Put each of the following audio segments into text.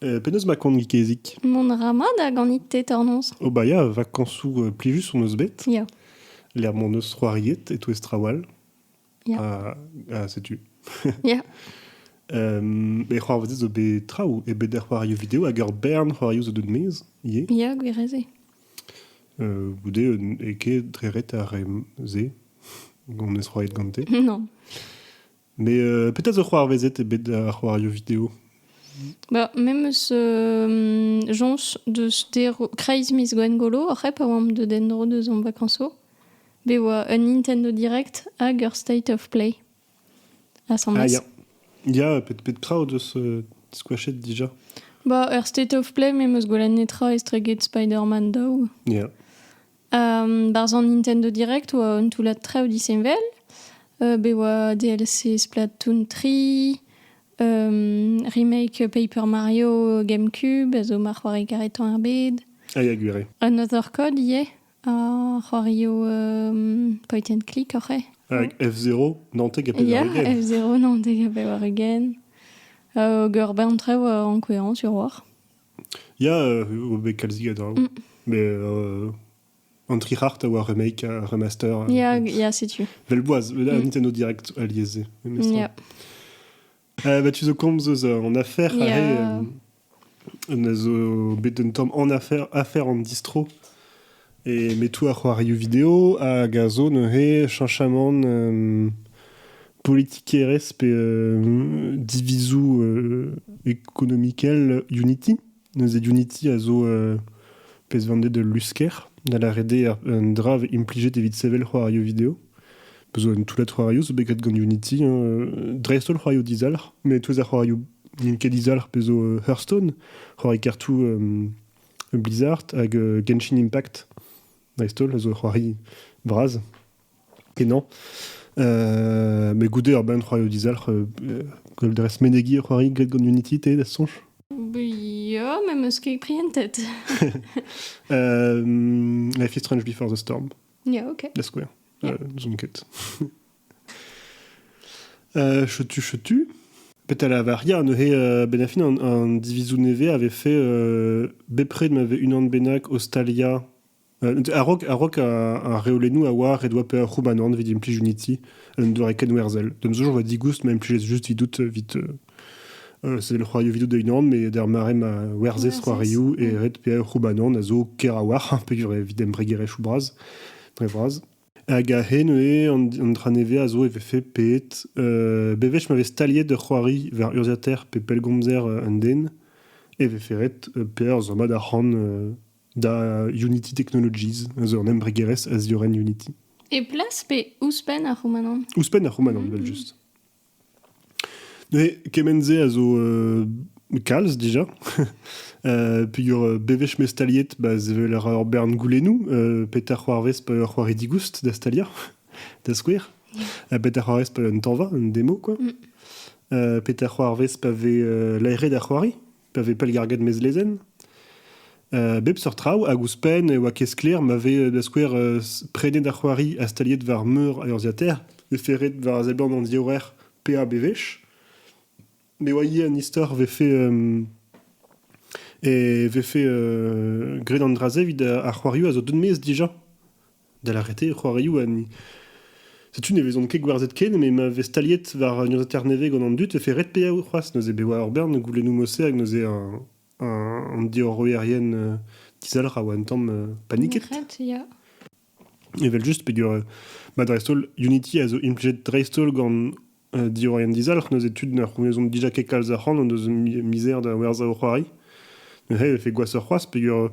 Penaos ma koant gikezig Mont ra mat da ganit tetornoz. O ba ya, vakañsoù euh, plijus hon eus bet. Ya. Lec'h m'hon eus c'hoariet e-touez traoù all. Ya. Ha, ha setu. Ya. Um, e c'hoarvezet zo bet traoù, e bet er c'hoarioù video hag ur bern c'hoarioù zo deut maez ivez. Ya, gwir ez eo. Euh, goude, euh, e ket dre ret ar re-se, on eus c'hoariet gante. Non. Mais euh, petra zo c'hoarvezet ebet ar c'hoario video Ba, me meus euh, joñs deus deroù kreiz miz Gwengolo oc'h hep a oamp deus en-dro deus hon vakanso. Bet oa un Nintendo Direct hag ur State of Play. Asambles. Ah, ya. Ya, pet, pet tra o deus euh, squashet déjà Ba, er State of Play me meus gwelet netra estreget Spider-Man daou. Yeah. Barzh an Nintendo Direct oa un toullad traoù disheñvel. bet oa DLC Splatoon 3, remake Paper Mario GameCube a zo ma c'hoari karetañ er bed. Ah ya, gwir eo. Un other code ivez, a c'hoario point and click oc'h eo. Avec F0, Nantek ha Pevar Ya, Ugent. F0, Nantek ha Pevar Ugent. Oger bain traoù en kouezhañ sur war. Ya, euh, on bet kalzik a draoù. Mm. Mais euh, Entre Heart a oa remake, un remaster. euh, Ya, ya, setu. Velboaz, un Mm. Nintendo Direct aliasé. memestra. Ya. Euh, bah, tu zo komz eus euh, en affaires, Yeah. ahe, euh, on a zo bet un tamm en affaires, affaires en distro. E metoù ar c'hoarioù video hag a zo neuze chañchamant politikerezh pe divizoù ekonomikel Unity. Neuze Unity a zo pezhvandet ul lusker da lâret dezhe un dra vez implijet evit sevel c'hoarioù video. Pezh zo un toullad c'hoarioù zo bet graet gant Unity dreist-holl c'hoarioù dizalc'h met tous ar c'hoarioù n'int ket dizalc'h pezh zo Hearthstone c'hoari kartoù Blizzard hag Genshin Impact, dreist-holl, a zo ur c'hoari bras kenañ. Euh, mais goude ur bern c'hoarioù dizalc'h, euh, gwell dres menegiñ ur c'hoari gred gant Unity, te, da soñj Ya, me meus ket pris en tête. euh, Life is Strange Before the Storm. Yeah, ok. Da skouer. Euh, zoom kit. Euh, chetu, chetu. Petra lavar ya, neuze, euh, ben a fin an, an divizoù nevez avait fait euh, bepred m'avait unan bennak ostalia euh, a-raok a-raok a, a reolennoù a oa ret oa pe ar c'houbanan evit implij uniti un doare ken werzel. Dem zo joa digoust ma implij juste vidout vit euh, c'est le c'hoario vidout de unan, mais der mare ma werzez c'hoarioù e ret pe ar c'houbanan a zo kerawar, pe evit embregere choubraz, dre vraz. Hag a-hed neuze an dra nevez a zo e vefe pet bewech ma vez staliet ur c'hoari war urzhiataer pe pellgomzer un den e vefe ret perzh rummad arc'hant da Unity Technologies zo un embregerezh a ziorren Unity. E plas pe ouzhpenn ar c'houmanant? Ouzhpenn ar c'houmanant evel-just. Neuze kement-se a zo kalz dija peogwir bewech m'eo staliet ba sevel ur bern goulennoù petra c'hoarvez pa eo ur c'hoari digoust da staliañ da skouer ha petra c'hoarvez pa eo un tañva un demo kwa petra c'hoarvez pa vez laeret ar c'hoari. pa vez pellgarget mez lezenn. Uh, bep seurt traoù, hag ouzhpenn e oa ket sklaer ma vez, da skouer, uh, prenet ar c'hoari ha staliet war meur a urzhiataer, veferet war a seblant an diorrer PABVch. Me oa ivez an istor vefe um, e vefe uh, graet an dra-se evit ar c'hoarioù a zo deut-mezh dija. da lâret eo c'hoarioù ha ni. Setu ne vezont ket gwerzhet ken, met ma vez staliet war un urzhiataer nevez gant an dud e fait ret paeañ c'hoazh. Neuze bet oa ur bern goulennoù-mousser hag neuze un, un, an diorroerien euh, dizalc'h a oa un tamm euh, paniket. Ret, ya. Evel-just, peger euh, ma dreist-holl, Unity a zo implijet dreist-holl gant uh, diorroerien dizalc'h. Neuze tud na c'hounezont dija ket kalz arc'hant, o deus misère da werzhañ o c'hoari. Neuze e fait gwashoc'h c'hoazh, peger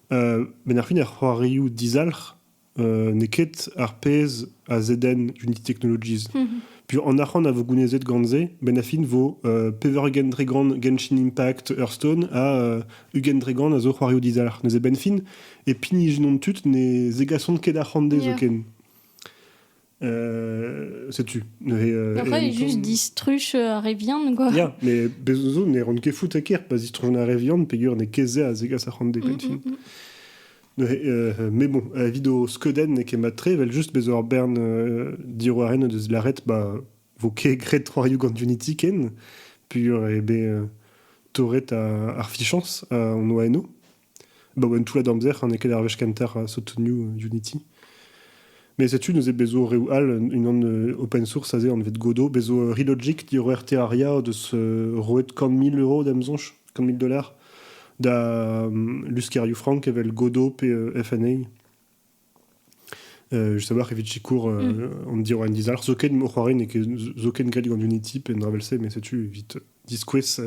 Benn ar fin ar c'hoarioù dizalc'h n'eo ket ar pezh a zedenn Unity Technologies. Puish an arc'hant a vo gounezet gant-se, benn ar fin vo pevar ugent dregont Genshin Impact Hearthstone ha ugent dregont a zo c'hoarioù dizalc'h. Neuze benn fin, e pinijenont tud ne zegasont ket arc'hant dezho ken. setu neuze après juste distruj ar re vihan quoi ya mais bezozo ne ran ket fout ker pa zistrujon ar re vihan peger ne kezea a zegas ar c'hant depentin mais bon avis do skeuden n'eo ket matre vel just bezo ar bern diroaren deus laret ba vo ket gret c'hoariou gant Unity ken pur e be torret ar fichans an oa eno Abaoe un toullad amzer n'eo ket ar wech kentañ sotonioù Unity. Met setu neuze bezo reoù all, unan open source aze anvet Godot, bezo Relogic diroer RT Aria deus roet kant mil euro d'am soñj, kant mil dollars, da luskerioù frank evel Godot pe FNA. just a-walc'h evit sikour mm. an diorren dizalc'h. Zoken, o c'hoari n'eo ket zoken galleg an Unity pe Unravel-se, mais setu evit diskouez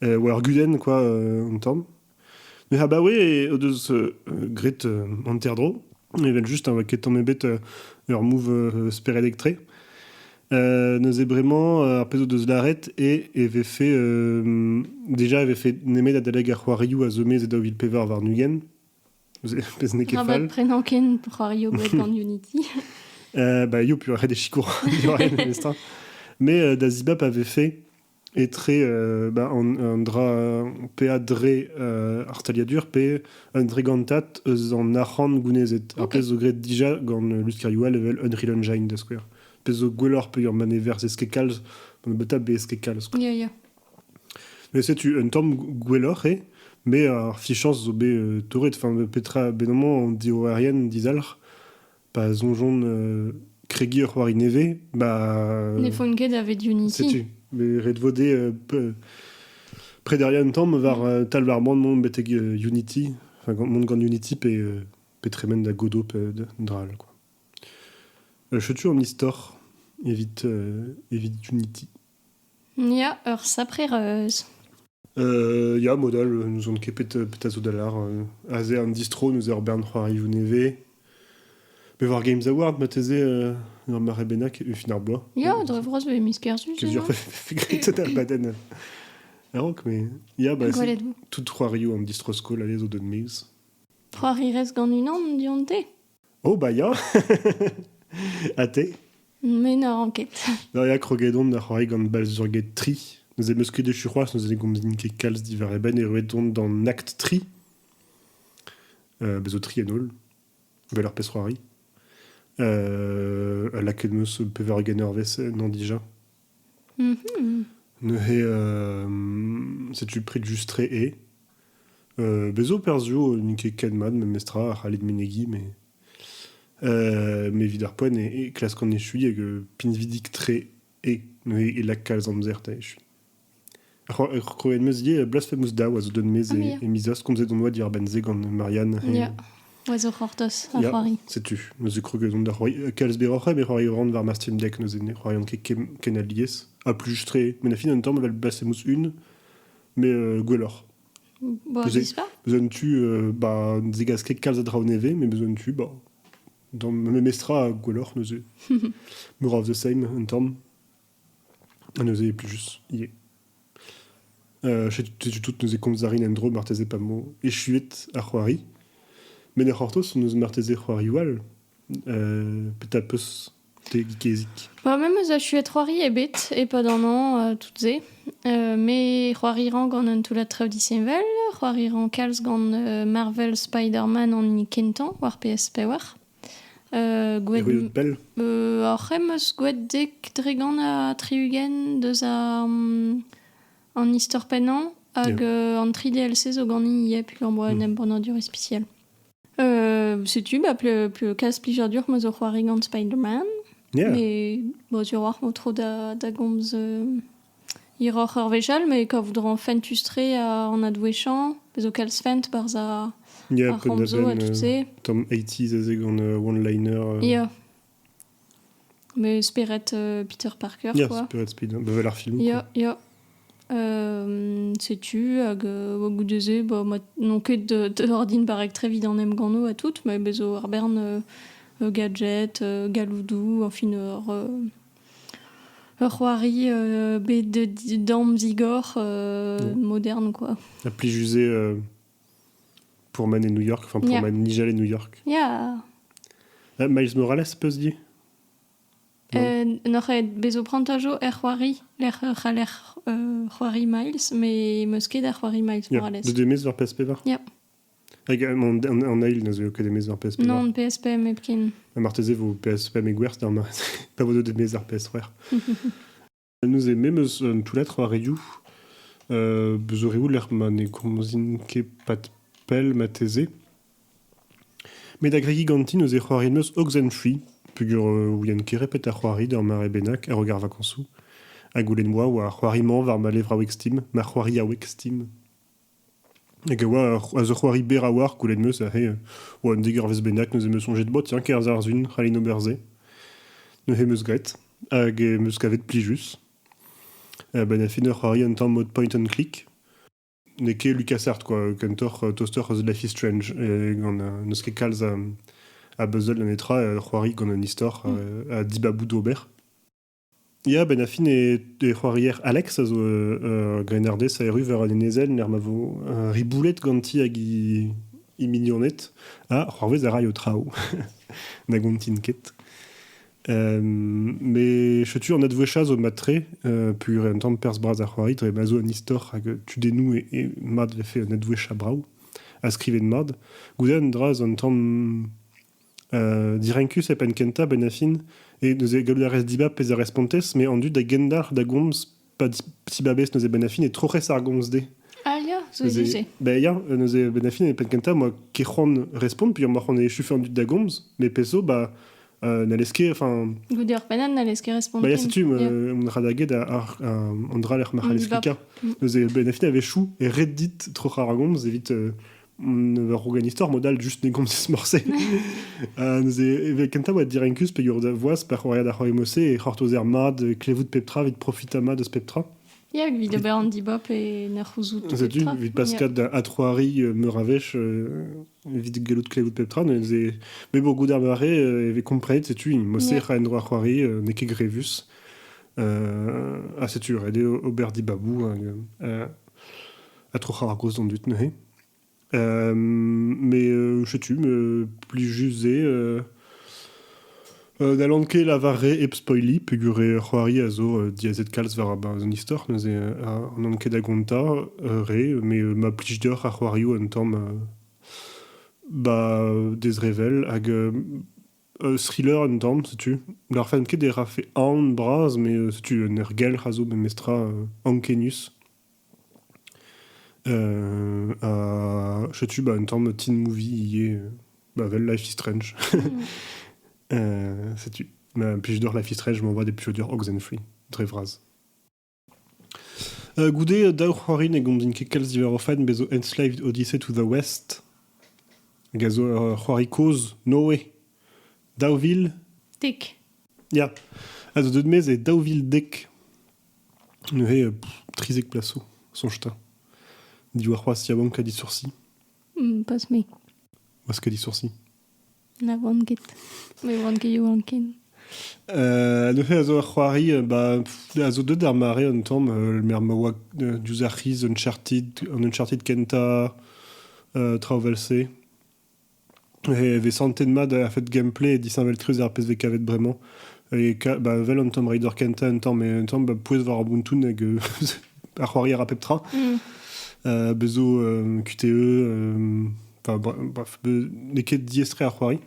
war ar guden, quoi, an tamm. Mais abaoe e o deus gret hanterdro, evel juste, hein, ket tamm ebet ur move spered electré. Euh, neuze bremañ euh, ar pezh o deus laret et e vefe euh, déjà e vefe nemet adalek ar c'hoarioù a zomez e daou vil pevar war nugen Pezh n'eo ket fall. prenañ ken pour arriver au bout Unity. euh, bah, yo, puis arrête des chicots. Mais euh, Dazibap avait fait et très euh, bah, un, un dra pe a dre euh, artaliadur pe un dre gantat eus an arc'hant gounezet. Okay. Ar pezh zo graet dija gant luskariou all evel Unreal Engine da skouer. Pezh zo gwelloc'h pe ur manever eske kalz, beta be eske kalz. Quoi. Yeah, yeah. Met setu un tamm gwelloc'h eo. Me ar fichañs zo bet torret, enfin petra, benamañ an diorroerien dizalc'h pa soñjont kregiñ ur c'hoari nevez, ba... Ne font ket davet Unity. Setu, met ret vo dezhe prederiañ un tamm war tal ar boan mont betek Unity, enfin mont gant Unity pe pe tremen da Godot pe dra all quoi. Setu an istor evit evit Unity. Ya, ur sapre reuz. Euh, ya, mod all, euh, n'ouzon ket pet, euh, pet a zo da lar. euh, aze an distro, neuze ur bern c'hoarioù nevez. Bet war Games Award, mateze, euh, ur mare bennak, e fin ar bloaz. Ya, Euh, dre vras vez miz kerzhus. Ket sûr, fait grit da baden. A-raok, mais... Ya, bah, c'est Gwelet vo. tout c'hoarioù an distro-skol, allez, zo deut mez. C'hoari rez gant unan dionte? Oh bah ya Ha te Me na ran ket. Da ya krogedon da c'hoari gant balzurged tri. Neuze meus ket echu c'hoazh, neuze ne gomzin ket kalz diwar e benn. Erruet on d'an akt tri. Euh, bez zo tri en holl. Gwell ar pezh-c'hoari. Euh, lakaet meus pevar ganer ves ennañ dija. Neuze, setu pred just tre e. bezo perzhioù n'int ket ken mat memestra a c'hallit menegiñ, mais evit ar poent e klask an echuiñ hag pinvidik-tre e lak kalz amzer da echuiñ. Ur krouenn meuzier Blasphemous Dow a zo deut maez e miz az komzet hon boa diwar-benn se gant Marianne. Ya, a zo c'hortoz, ar Ya, c'hoari. setu. Neuze kroget on da c'hoari. Euh, Kalz berroc'h eo, bet c'hoari ran war ma Steam Deck, neuze ne c'hoarian ket ken, ken alies. Ha plus juste re. Mais na fin un tamm, evel Blasphemous 1, mais euh, gwelloc'h. Bo, Tu sais- viz pas Besoin de tu, euh, bah, ne zegas ket kalz a draoù nevez, mais besoin de tu, bah, dans ma memestra, gwelloc'h, neuze. More of the same, un tamm. Neuze, plijus, ivez. Euh, setu, setu tout, neuze komz a rin en-dro, marteze pa vo echuet ar c'hoari. Met er c'hortoz, n'eus marteze c'hoarioù all. Euh, petra peus te gikezik? Ba, me 'meus achuet c'hoari ebet e-pad an hañv, euh, tout-se. Euh, me c'hoarierañ gant un toullad traoù disheñvel, c'hoarierañ kalz gant euh, Marvel Spider-Man an hini kentañ, war PS4. Gouet... pell? Hor c'hemm 'meus gouet dek dregont ha tri-ugent deus an istor pennañ hag an tri DLC zo ganin ivez peogwir am boa un embannadur ispisial. Setu bah plez plijadur ma zo c'hoari gant Spider-Man. Me sur 'oar vo tro da gomz Hiroc'h ur wech all ma kav dra fentus-tre an adwezhañ, pezh zo kalz fent barzh ar ramzo ha tout se. Tamm eighties aze gant one-liner. Ya. Met spered Peter Parker quoi. Ya, spered Peter, bah 'vel ar film. Ya, ya. setu, hag goude-se, bah, n'on ket ordin barrek très vit an emgannoù ha tout, met bez' zo ar bern gadget, galloudoù, enfin ur... Ur c'hoari bet damzigor modern quoi. Ha plijus eo pourmen e New York, enfin pourmen Nijal et New York. Yeah. Miles Morales, peus dit N'oc'h aet bezo prantajo er c'hoari lec'h c'haller c'hoari Miles, me meus ket ar c'hoari Miles Morales. De demez war PSP var? Yeah. Hag an eil ne zeu ket emezañ PS5. Non, PSP mepkin. Ha marteze vo PSP met gwerz da pa vo deuet emezañ PS3. Nous e memeus un toullad c'hoarioù. Euh, zo reoù lec'h ma ne komzin ket pat pell mateze. Met agregiñ ganti neuze c'hoariet meus Oxenfree, peogwir euh, ouien ket repet ar c'hoari d'ur mare bennak a rogar vakañsoù. Ha goulenn 'moa oa c'hoari-mañ war ma levraoueg Steam, ma c'hoariaoueg Steam. Hag a oa a zo c'hoari berr a-walc'h, gwelet 'm eus, aze oa un degarvezh bennak, neuze 'm eus soñjet, bon tiens, kerzh àr-zun, c'hallin ober se. Neuze 'm eus graet hag 'm eus kavet plijus. A-benn ar fin eo c'hoari un tamm mod point-and-click. N'eo ket LucasArts kwa, kentoc'h tostoc'h eus Life is Strange gant n'eus ket kalz a a buzzle ha netra, c'hoari gant un istor ha dibaboù d'ober. Ya, benn ar fin e c'hoarier Alex a zo ur grennardez a erru war an enezenn lec'h ma vo riboulet ganti hag he mignoned. Ha c'hoarvez a ray ho traoù na gontin ket. Met setu an advouezhañ zo mat-tre peogwir un tamm perzh bras a c'hoari dre ma zo un istor hag tudennoù mat 'vefe un advouezhañ brav ha skrivet mat. Goude un dra zo un tamm Direnkus e penn-kentañ, Benafin, e neuze gallout a rez dibab pezh a respontez, met an dud a gendalc'h da gomz pa dibabez neuze Benafin e troc'hez ar gomz-se. Ah ya, zo ivez-se. Ben ya, neuze Benafin e penn-kentañ, moi ket c'hoant respont, puilh amoc'h on echufe an dud da gomz, met pezh zo, ba, n'hallez ket, enfin... Goude ur pennad n'hallez ket respontiñ. Ba ya, setu, on ra da get an dra lec'h ma c'hallez klikañ. Neuze Benafin a wechou e ret dit troc'hañ ar gomz evit war hogan istor mod all just ne gomzis morse uh, neuze evel kentañ oa dirankuz pegur da voaz pa c'hoariad ar c'hoari mose e c'hortozer mat e klevout pep tra evit profita mat eus pep tra Ya, evit ober an dibop e na c'houzout Zetu, evit paskat da atroari euh, meur a vech euh, evit gallout klevout pep tra. Mais bon, goût ar mare, euh, evit comprenez, setu, mose yeah. ra en droit c'hoari, n'e ket grevus. Euh, a setu, red eo ober dibabou. Hein, euh, ha troc'hañ ar groaz d'an dud neuze. mais je sais plus juste c'est N'hallan ket lavaret hep spoiliñ peogwir eo c'hoari a zo diazet kalz war an istor neuze n'on ket da gontañ re mais ma plij deoc'h ar c'hoarioù un tamm ba dezrevell hag thriller un tamm setu n'arfent ket e rafe aon bras mais setu un ergelc'h a zo memestra ankenius ha setu bah, un tamm teen movie ivez. Bah, vel Life is Strange. setu. puis je dors Life is Strange, je m'envoie des purures oxen-free. Dre vras. Uh, goude daou c'hoarin e gondin ket kalz diwar o faen bezo Enslaved Odyssey to the West. Hag a zo ur c'hoari kozh, no way. Daou vil. Dek. Ya. A zo deut mez e daou vil dek. Neuze trizek plas zo, soñj 'ta. Diwar c'hoazh yaouank ha disoursi. Pas me. Oazh ka disoursi. Na oan ket. Me oan ket yaouank ken. neuze a zo ur c'hoari ba a zo deuet d'ar mare un tamm mer ma oa diouzh ar c'hiz Uncharted, an Uncharted kentañ traoù 'vel-se. E vez santet mat a-fet gameplay ha disheñvel-tre ar pezh vez kavet bremañ. E ka- ba vel an Tomb Raider kentañ un tamm, un tamm ba pouez war ar Ubuntu hag euh, ar c'hoari a ra pep tra. Euh, bez zo euh, QTE, euh, enfin, bra- bref, be- n'eo ket diaes-tre ar c'hoari.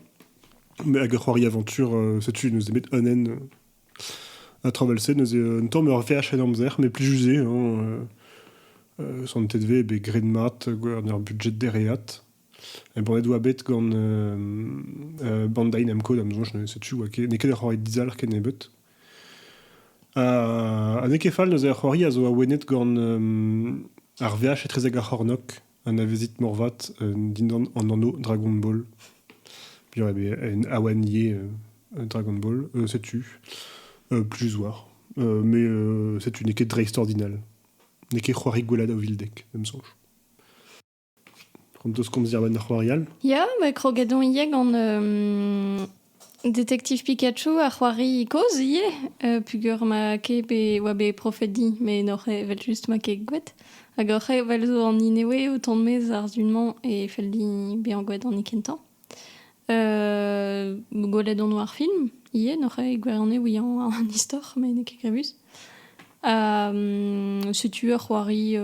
Mais hag ar c'hoari aventure, euh, setu, neus bet Onen, euh, à traverser, neus euh, un tamm ur VH en amzer, mais plus usé. Hein, euh, euh, santet vez be gred mat, gwer ar budget dereat. Eboret oa bet gant uh, Bandai Namco da'm soñj, setu oa ket, n'eo ket ur c'hoari dizalc'h ken nebeut. Ha, ha n'eo ket fall neuze ar c'hoari a zo awenet gant um, ar VH etrezek ar c'hornok, anavezit morvat, uh, dindan an anv Dragon Ball. Bien, eh bien, un awanier uh, Dragon Ball, uh, setu, uh, plus war. Uh, mais uh, setu, n'eo ket dreist ordinal. N'eo ket c'hoari gwella da Vildek, da'm soñj. Pront deus komz diàr-benn ar c'hoarial. Ya, ma kroget on ivez gant euh, Détective Pikachu, ar c'hoari kozh ivez, euh, pugur ma ket bet oa bet profet di, met n'oc'h evel just ma ket gouet. Hag oc'h evel zo an inewe o tont maez ar zun-mañ e fell din bezañ gouet an kentañ. Gwelet on war film ivez, n'oc'h aet gwirione ouiañ an istor, met n'eo ket grevus. setu ur c'hoari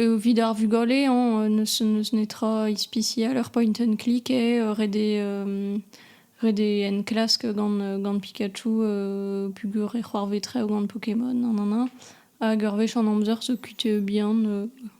evit ar vugale hañ, n'eus netra ispisial, ur point-and-click eo, ret eo enklask gant Pikachu peogwir e c'hoarvetre gant Pokémon, nanana. Hag ur wech an amzer zo kuit bihan.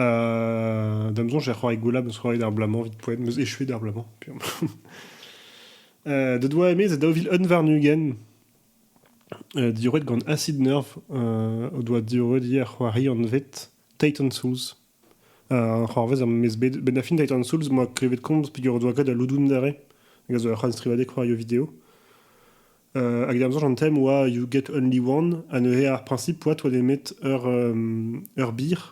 Euh, Da'm soñj e c'hoarie Goulab eus c'hoarie d'ar bloaz-mañ evit poent, meus echuet d'ar bloaz-mañ. piom. Euh, Deut oa emez e daou vil un warn-ugent, euh, diorret gant Acid Nerve, euh, o doa diorret ivez ar c'hoari anvet Titan Souls. Euh, an c'hoarvez am eus bet, bet da fin Titan Souls, m'oa klevet komz peger o doa kaout al loudoun dare, hag a zo ur c'halstrivadeg c'hoario video. Hag er amzer an tem oa You Get Only One, ha neuze ar prinsip oa toa nemet ur ur bir,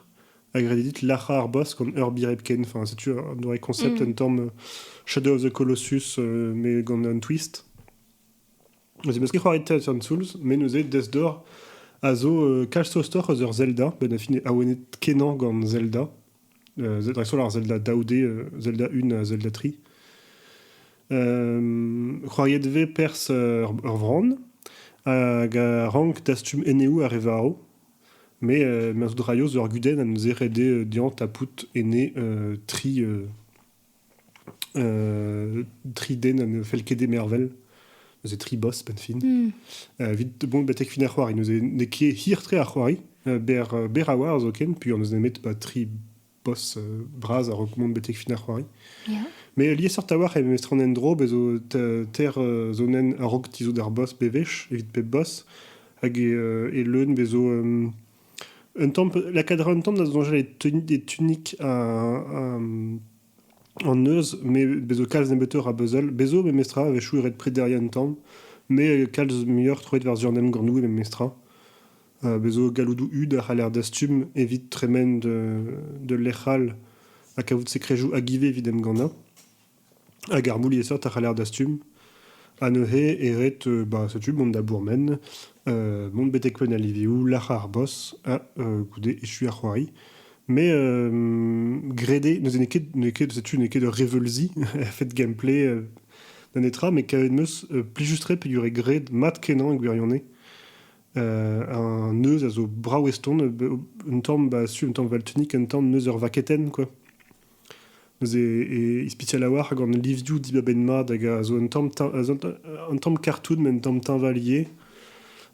hag ret eo dit lac'hañ ar boss gant ur bir hepken. Enfin, setu un doare concept un tamm Shadow of the Colossus mais gant un twist. Neuze 'm eus ket c'hoaret Tatooine Souls, met neuze Death-Door a zo kalz tostoc'h eus ur Zelda, benn a fin awenet kenañ gant Zelda. dreist-holl ar Zelda daou-D, Zelda 1 ha Zelda 3. c'hoariet vez perzh ur vran hag a rank dastum eneoù ar re varv. Mais euh, ma zo draio zo ar gudenn a neus ret dezhañ tapout ene tri tri den ha ne fell ket d'e mervel. Neuze tri boss, penn-fin. Evit, bon, betek fin ar c'hoari, neuze n'eo ket hir-tre ar c'hoari. Ber, ber a oa, zoken, puilh an eus nemet ba tri boss bras a-raok mont betek fin ar c'hoari. Ya. Met liesseurt a-walc'h e memestra an endro, bez zo teir zonenn a-raok tizhout ar boss bewech, evit pep boss. Hag e leun, bez zo Un tamm lakaat a ra un tamm da soñjal e tun- e tunic an neuz met bez' zo kalz nebeutoc'h a beuzell. Bez' zo memestra a-wechoù e red prederiañ un tamm met kalz muioc'h troet war-zu an emgannoù eo memestra. Bez' zo galloudoù hud a c'haller dastum evit tremen d'ul lec'h all ha kavout sekrejoù hag ivez evit emgannañ. Hag ar mouliesseurt a c'haller dastum. Ha neuze e ret ba setu mont da bourmen, mont betek penn al livioù, lârañ ar boz ha goude echu ar c'hoari. Mais grede, neuze n'eo ket n'eo ket setu n'eo ket ur reveulzi a-fet gameplay da netra, met kavet 'm eus plijus-tre peogwir eo graet mat-kenañ e gwirionez. Un neuz a zo brav eston, un tamm ba su un tamm valtunic, un tamm neuz ur vaketenn, quoi. Neuze e ispitial a-walc'h hag an livioù dibabenn mat hag a zo un tamm, un tamm kartoun met un tamm teñvalier.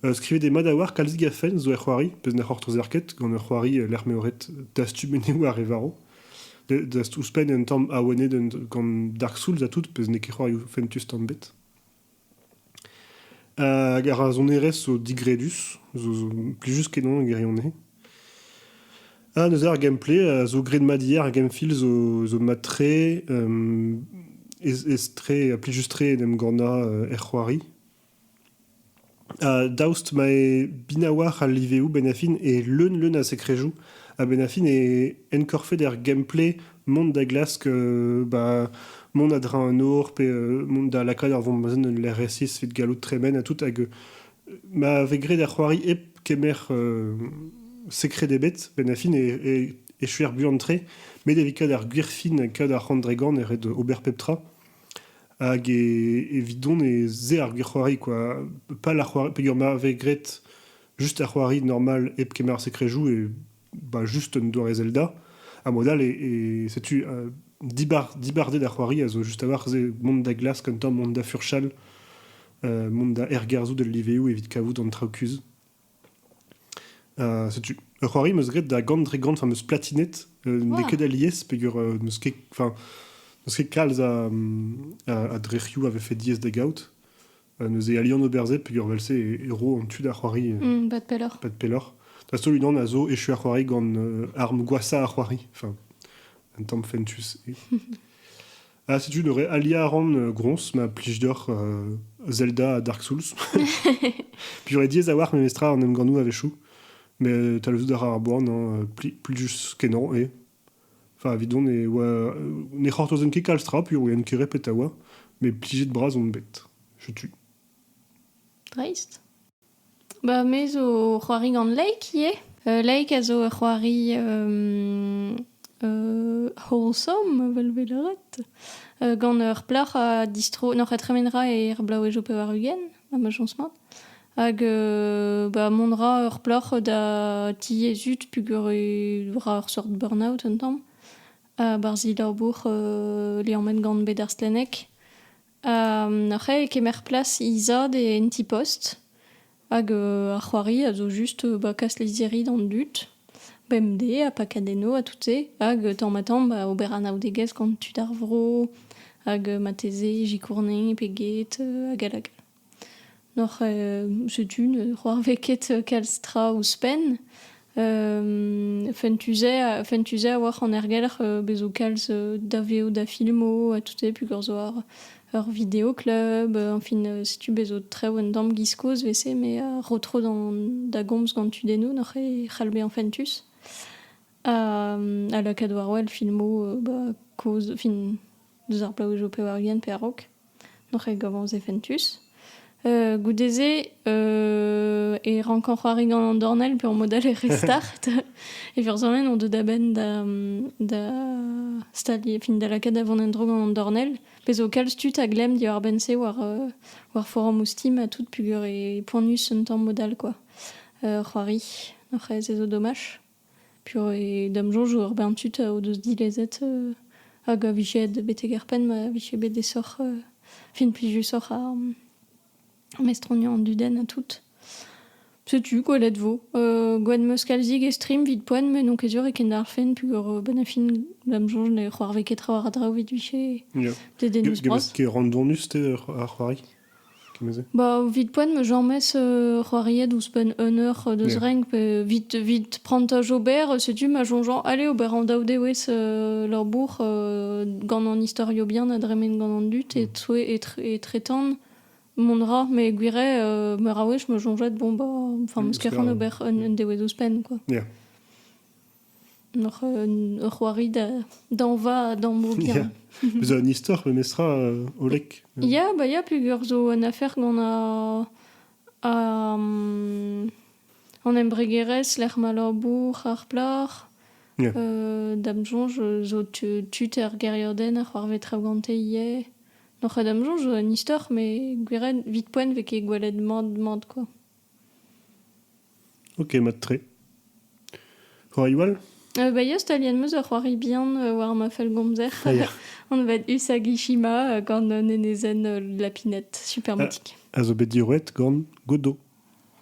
Euh, skrivet eo mat a-walc'h kalzik a fenn zo er c'hoari, pezh ne c'hortozer ket, gant ur c'hoari euh, lec'h m'eo ret dastum eneoù ar re varv. Dast ouzhpenn un tamm awenet gant Dark Souls ha tout, pezh n'eo ket c'hoarioù fentus tamm bet. Hag ar sonerezh zo digredus, zo plijus kenañ e gwirionez. Ha neuze ar gameplay a zo graet mat ivez, ar game-feel zo zo mat-tre, ez-ez-tre ha plijus-tre en em gannañ er c'hoari. Daoust ma eo binawalc'h al liveoù benn-ha-fin e leun-leun a sekrejoù ha benn-ha-fin e enkorfet er gameplay mont da glask ba mont a-dreñv an or pe mont da lakaat ur vombazenn en lec'h resis evit gallout tremen ha tout hag ma vez graet ar c'hoari hep kemer sekred ebet benn-ha-fin e echuer buan-tre met evit kaout ar gwir fin, kaout ar c'hant dre gant e ret ober pep tra. Hag evidon e se ar c'hoari quoi. Pas la c'hoari peger m'avez graet juste ar c'hoari normal hep kemer ar secret-joue et bah juste un doare Zelda. A mod all et setu euh, dibar- dibarded ar c'hoari a zo just a-walc'h se mont da glask un tamm mont da furchal, euh, mont da ergerzhout el liveoù evit kavout an traoù kuzh. setu ur c'hoari 'm eus graet da gant dre gant, 'm eus platinet. n'eo ket alies peger n'eus ket kalz a drec'hioù a vefe diaes da gaout. neuze alian ober se peger vel-se e ro an tu da c'hoari. bad pelloc'h. Bad pelloc'h. Da-heul unan a zo echu ar c'hoari gant arm gwashañ ar c'hoari. un tamm fentus. Ha setu neuze aliañ a ran euh, groñs ma plij deoc'h euh, Zelda ha Dark Souls. Puis j'aurais diaes a-walc'h memestra an emgannoù a-wechoù. Mais euh, talvezout a ra ar boan, hein, euh, pli, plijus kenañ eo. Enfin, evidon ne oa, euh, ne c'hortozan ket kalz tra, puilh ket repet a oa. Mais plijet-bras on bet. Je tue. Dreist. Ba me zo ur c'hoari gant Laik ivez. Laik a zo ur c'hoari wholesome evel 'vez lâret, gant ur plac'h a distro n'oc'h a tremen 'ra er blaouezh ho pevar-ugent ha ma chañs mat. Hag ba mont 'ra ur plac'h da diaezut peogwir e ra ur sort burn-out un tamm. Barzh he labour liammet gant bed ar stlenneg. C'hae e kemer plas he zad en ti-post hag ar c'hoari a zo just ba kas lizhiri d'an dud bemdez ha pakat enno ha tout-se hag tamm-ha-tamm ba ober anaoudegezh gant tud ar vro hag marteze sikourne pe get hag all hag all. N'oc'h setu c'hoarvez ket kalz tra ouzhpenn. fentus-se fentus-se a-walc'h an ergelc'h bez 'zo kalz daveoù da filmoù ha tout-se peogwir 'zo ar ur video-club enfin setu bez 'zo traoù un tamm 'giz kozh 'vese met a ro tro da gomz gant tudennoù n'oc'h ket c'hall bezañ fentus. Ha lakaat war wel filmoù kozh enfin deus ar plaou zo pevar-ugent pe a-raok. Noc'h eo gabañ ouzh fentus. Euh, goude-se euh, e rank an c'hoari gant an dornell pe en mot all e restart. e vurzanenn on deuet da-benn da, da stalier, fin da lakaat da vont en-dro gant an dornell. Pezh zo kalz tud a glemm diwar-benn-se war, euh, war forom ouzh Steam ha tout peogwir e poanius un tamm mod all, quoi. Euh, c'hoari. Noc'h eo ez ezo domaj. P'eo e da'm soñj ur bern tud o deus dilezet hag a vije betek ar penn ma vije bet aesoc'h fin plijusoc'h ar mestroniañ an dudenn ha tout. Setu gwelet 'vo. Gwad 'm eus kalzik e stream 'vit poent met n'on ket sur e kendalc'hfen peogwir benn ar fin da'm soñj ne c'hoarvez ket trawalc'h a draoù 'vit vije dedennoù-bras. Get randonus-te ar c'hoari? Ba evit poent 'm eus james c'hoariet ouzhpenn un eur deus renk pe evit evit prantaj ober setu ma soñjañ ale ober an daou dewezh labour gant an istorio bihan a dremen gant an dud e-toe etretant mont 'ra met gwirhet meur a wech 'm eus soñjet bon ba enfin 'm eus ket c'hoant ober un dewezh ouzhpenn quoi. Hoc'h ur c'hoari da dañva da moger. Zo un istor memestra hollek. Ya, ba ya peogwir zo un afer gant an embregerezh lec'h ma labour ar plac'h. Da'm soñj zo tud er gêriadenn a c'hoarvez traoù gante ivez. Noc'h da'm soñj zo un istor met gwiriet 'vit poent 'vez ket gwelet mat mat kwa. Ok, mat-tre. C'hoariou all Euh, bah, ya, staliet 'm eus ur c'hoari bihan euh, war ma fellgomzer. Ah, ya. On va être Usagishima euh, gant un enezenn euh, de la pinette, super Ah. mythique. A zo bet diroet gant Godo.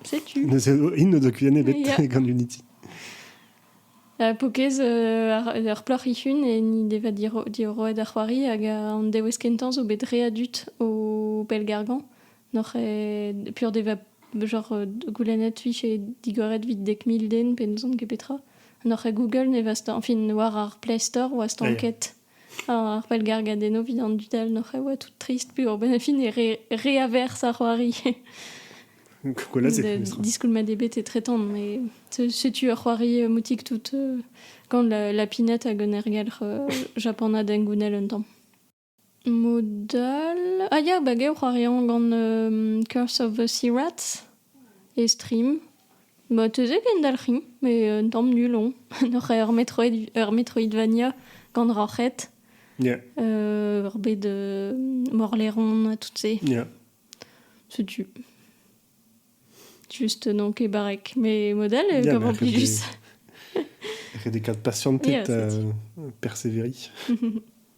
Setu. Neuze, hin n'o doa kuienn ebet Ya. gant Unity. Uh, Pokez euh, ar, ur plac'h ihun e ni deva diro- dioroet ar c'hoari hag euh, an dewez kentañ zo bet re adut o pellgargañ. Noc'h eo pur deva genre euh, goulennet fich eo digoret vit dek mil den pe n'ouzon ket petra. Noc'h eo Google ne vast, enfin, war ar Play Store oa stanket ar pellgargadenno vit an dud all noc'h eo tout trist pur ben fin e re, reavers ar c'hoari. Diskoulmat ebet e tretan, mais setu ur c'hoari euh, moutik tout euh, gant la, la pinette hag un ergelc'h Japana dengounel un tamm. Mod all... ah ya, ba gaou c'hoari hañ gant Curse of the Sea Rats e stream. Ba teuze kendalc'hin, met un tamm nul on. Oc'h ur Metroid- ur Metroidvania gant roc'hed. Ya. ur bed morlaeron ha tout se. Ya. Setu. Just donc e barrek. Mais mod all e Ya, gav mais en après, plus. Ret e kat patientet, Yes, merci. euh, persévérer.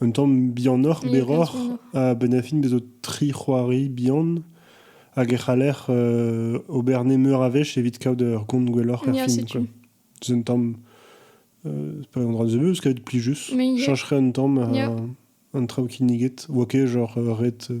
Un tamm bihanoc'h, berroc'h, ha a-benn ar fin bez' zo tri c'hoari bihan hag e c'haller ober nemeur a wech evit kaout ur gont gwelloc'h er fin. setu. C'est un tamm... pas un dra nebeus, kaout plijus. Mais il y a- Chañcherait un tamm euh, an traoù kinniget. 'Oa ket genre ret euh,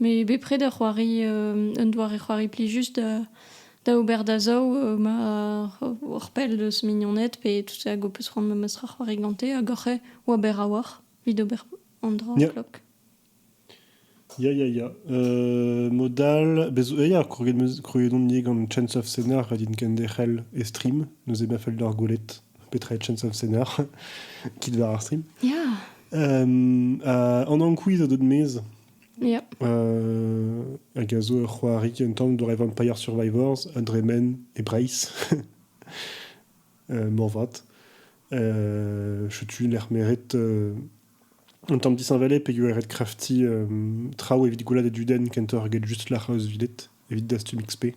Met bepred ur c'hoari, un doare c'hoari plijus da da ober da zaou ma hor pell deus mignoned pe tout hag ho peus c'hoant memes tra c'hoari gante hag oc'h eo ober a-walc'h evit ober an dra en klok. Ya ya ya, mod all bez- ya kroget 'm eus krouet on ivez gant Chance of Cénar din kenderc'hel e stream, neuze ma fell deoc'h gwelet. petra est Chance of Center, kit war ar stream. Ya. Um, uh, an ankouiz a deut mez. Ya. Uh, hag a zo ur c'hoarig un tamm dre Vampire Survivors, un dremen e Breizh. uh, morvat. Uh, tu lec'h meret uh, un tamm disheñvelé pegwir eret krafti uh, traoù evit goulad e duden kentoc'h get just lec'h eus videt, evit dastum XP.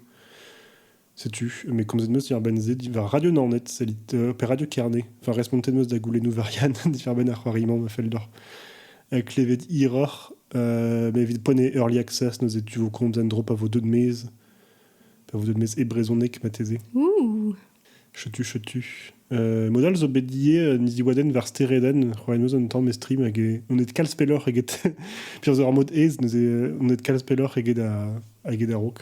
Setu, mais komzet meus diàr-benn se diwar Radio Naoned, sellit, euh, pe Radio Kerne, enfin respontet meus da goulennoù varian diwar-benn ar c'hoari-mañ ma fell deoc'h. Euh, klevet hiroc'h, euh, mais evit ponet Early Access, neuze tu vous comptes un drop à vos deux de maize, à vos deux de maize et brezhonnek matezé. Ouh Chetu, chetu. Euh, Modal zo bet die euh, niziwaden war stereden, c'hoaen eus an tamm estrim hag e- on et kalz pelloc'h eget... Pir zo ar mod ez, neuze euh, on et kalz pelloc'h eget a- eget a-raok.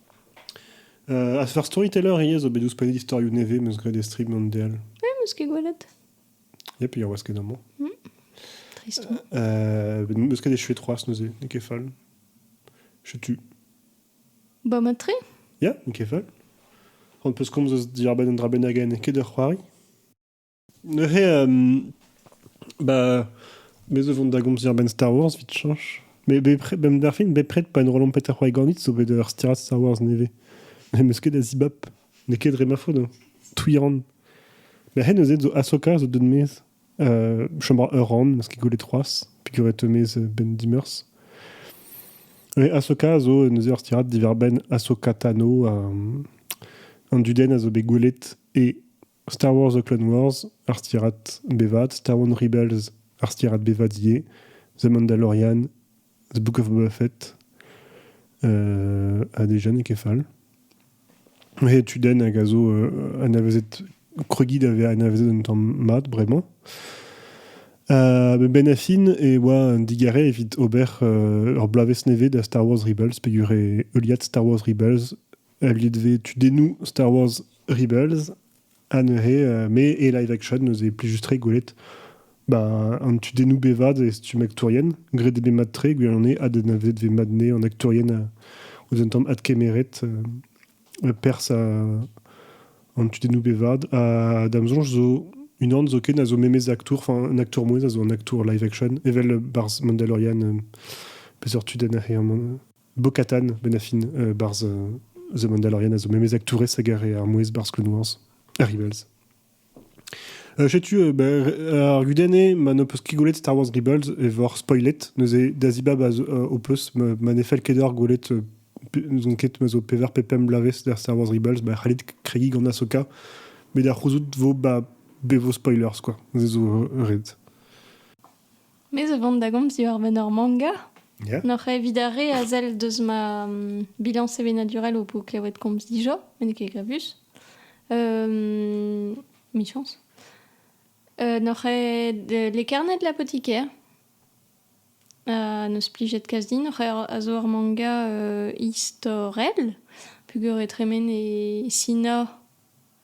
A seurt storyteller ivez zo bet ouzhpennet istorioù nevez 'm eus graet e strip gant Deal. Eh, 'm eus ket gwelet. Ya, pe ur wasket amañ. Trist. Euh, bet- 'm eus ket echuet c'hoazh neuze, n'eo ket fall. Setu. Ba matre? Ya, n'eo ket fall. On peus komz eus diorbenn un dra bennak en ket ur c'hoari? Neuze, ba me zo 'vont da gomzer a-benn Star Wars 'vit chañch. Met bepred, bemdez ar fin, bepred pa en rolan Peter Weir ganit zo bet ur stirad Star Wars nevez. N'em eus ket da zibab. N'eo ket dre ma faot hein. Touiran. Ma c'hen neuze zo Ahsoka zo deut maez. Chambre ur ran, 'm eus ket gwelet c'hoazh. Pigoret maez Ben Dimmers. Neuze Ahsoka zo neuze ur stirad diwar-benn Ahsoka Tano. An dudenn a zo bet gwelet e Star Wars The Clone Wars, ar stirad bevat, Star Wars Rebels, ar stirad bevat ivez, The Mandalorian, The Book of Boba Fett, euh, a des jeunes kefal. Et tu donnes à gazo euh, anavezet Krugid avait anavezet un temps mat, vraiment. Euh, ben Affin e oa un digare evit ober euh, ur bloavezh nevez da Star Wars Rebels, pedur e heuliad Star Wars Rebels evit e tudennoù Star Wars Rebels ha neuze me et live action neuze plijus-tre gwelet ben, an tudennoù bevad e stumm aktourien graet eo bet mat-tre gwell on eo adennavet vet mat-ne an aktourien ouzh un tamm adkemeret pers an tudennoù bevad ha da'm soñj zo unan zoken a zo memez aktour, enfin un aktour mouezh a zo un aktour live action, evel barzh Mandalorian, peseurt tudenn a c'he amañ? Bo-Katan, ben affin, euh, barzh euh, The Mandalorian a zo memes aktourez hag ar, ar mouezh barzh Clone Wars, ar Rebels. Euh, Setu euh, ba, ar gudenn eo ma n'ho peus ket gwelet Star Wars Rebels e vor spoilet. Neuze Dazibab a zo- euh, ho peus ma, ma ne fell ket deoc'h gwelet euh, pe- n'ouzon ket ma zo pevar pe pemp bloavezh da Star Wars Rebels, ba c'hallit kregiñ gant Ahsoka, met da c'houzout vo ba, be vo spoilers quoi. Neuze zo euh, ret. Me zo vont da gomz diwar-benn ur manga. Yeah. N'oc'h evit ar re a sell deus ma mm, bilan sevenadurel ho po klevet komz dija, met n'eo ket gravus. Euh, michañs. Euh, n'oc'h ed euh, lekarnet l'apotiker. Uh, n'eus plijet kazi, n'oc'h er- a zo ur manga euh, istorel, pugur e tremen e Sina,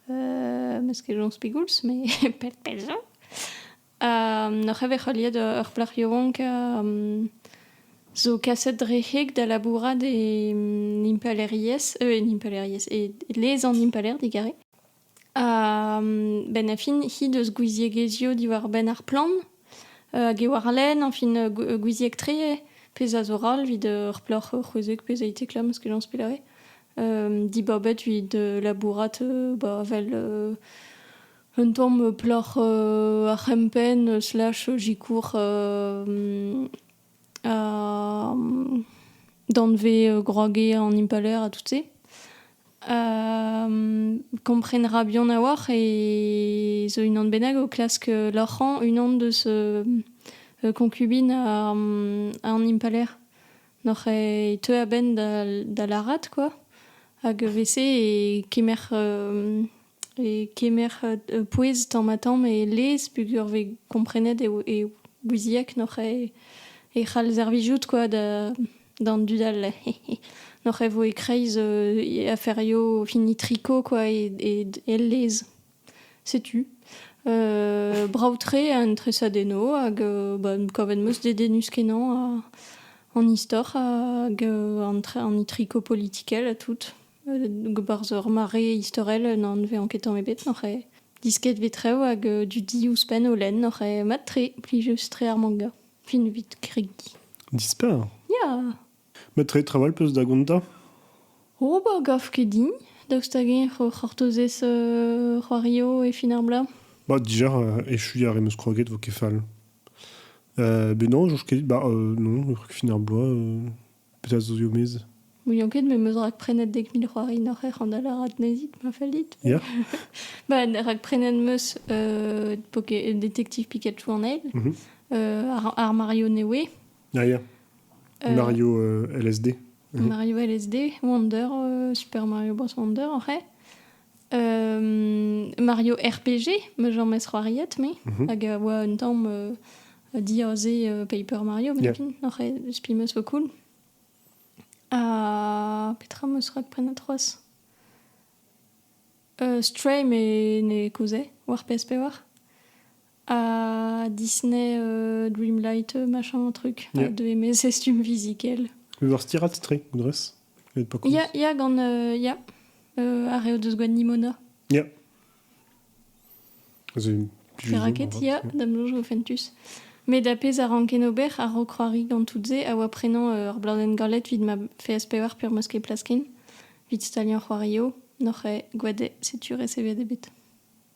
euh, mes ket joñs pegoulz, mais pell pell zo. Neuze e vez heuliet ur plac'h yaouank zo kaset dre heg da labourat e impalaeriezh e impalaeriezh e lez an impalaer digarez. Benn ar fin he deus gouiziegezhioù diwar-benn ar plant hag e warlene añfin gouizieg-tre pezh a zo ral evit ur plac'h c'hwezek pezh a été klamm eus kenaos pellare dibabet evit labourat vel Un tamm plac'h ar c'hempenn slash zikour danvez groagez an impalaer ha tout-se. Komprenra buan a-walc'h e zo unan bennak o klask loc'hañ unan deus konkubin an impalaer. Noc'h e teu a-benn da lârat kwa, hag evel-se e kemer E kemer pouez tamm-ha-tamm e lez peogwir 'vez komprenet e ouizieg n'oc'h ket e c'hall servijout kwa d'an dud all n'oc'h ket 'vo e-kreiz aferioù hini triko kwa el lez setu brav-tre an tresadennoù hag kavet 'm eus dedennus-kenañ an istor hag an triko politikel ha tout. Barzh ur mare istorel n' anvean ket tamm ebet oc'h disket vit rev hag du di ouzhpenn o lenn oc'h mat-tre plijus-tre ar manga fin evit kregiñ. Dispar. Ya. Met re trawal 'peus da gontañ? O ba gav ket din daoust hag-eñ eo c'hortozez c'hoario e fin ar bloaz. Ba dija echuiñ a re 'm eus kroget 'vo ket fall. Ben non, soñj ket. Ba non, fin ar bloaz. Petra zo zo mez Ouion ket, me meus rakprenet dek mil c'hoari noc'h ec'h an da lârat nezit, ma fellit. Ya. ba, rakprenet meus euh, Détective Pikachu en ail, mm -hmm. ar, ar Mario Newe. Ah ya. Euh, Mario euh, LSD. Uh -huh. Mario LSD, Wonder, euh, Super Mario Bros. Wonder, oc'h Mario RPG, ma j'en mez c'hoariet, me, mhm. hag a oa un tamm diaze Paper Mario, yeah. oc'h spi meus vo cool. Ha petra meus rak prenet c'hoaz? Uh, Stray me ne kouze, war PS5 war. à Disney euh, Dreamlight, machin, truc, Yeah. de mes costumes musicals. Ur stirat tre, drez Il y a, y a gant... euh, y a euh, Arreo deus gwan Nimona. Ya. Pe raket ya, damlo jo fentus. Mais da pez a ranken ober a ro kroari gant tout-se a oa prenañ euh, ur bladenn galet vid ma FSPR per moske plaskin, vid staliañ c'hoario, noc'h e gwade setu resevet ebet.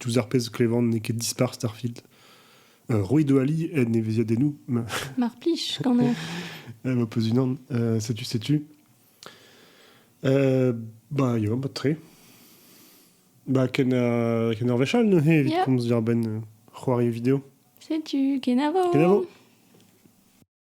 diouzh ar pezh klevan n'eo ket dispar Starfield. Euh, Roy Doali aide neveziadennoù. Mar plich, quand même. Elle me pose une âne. Euh, sais-tu, sais-tu euh, Bah, il y a un peu de trait. Bah, ken a ken ar vechal neuze evit yeah. komz dir ben c'hoari vidéo. Sais-tu, kenavo. Kenavo.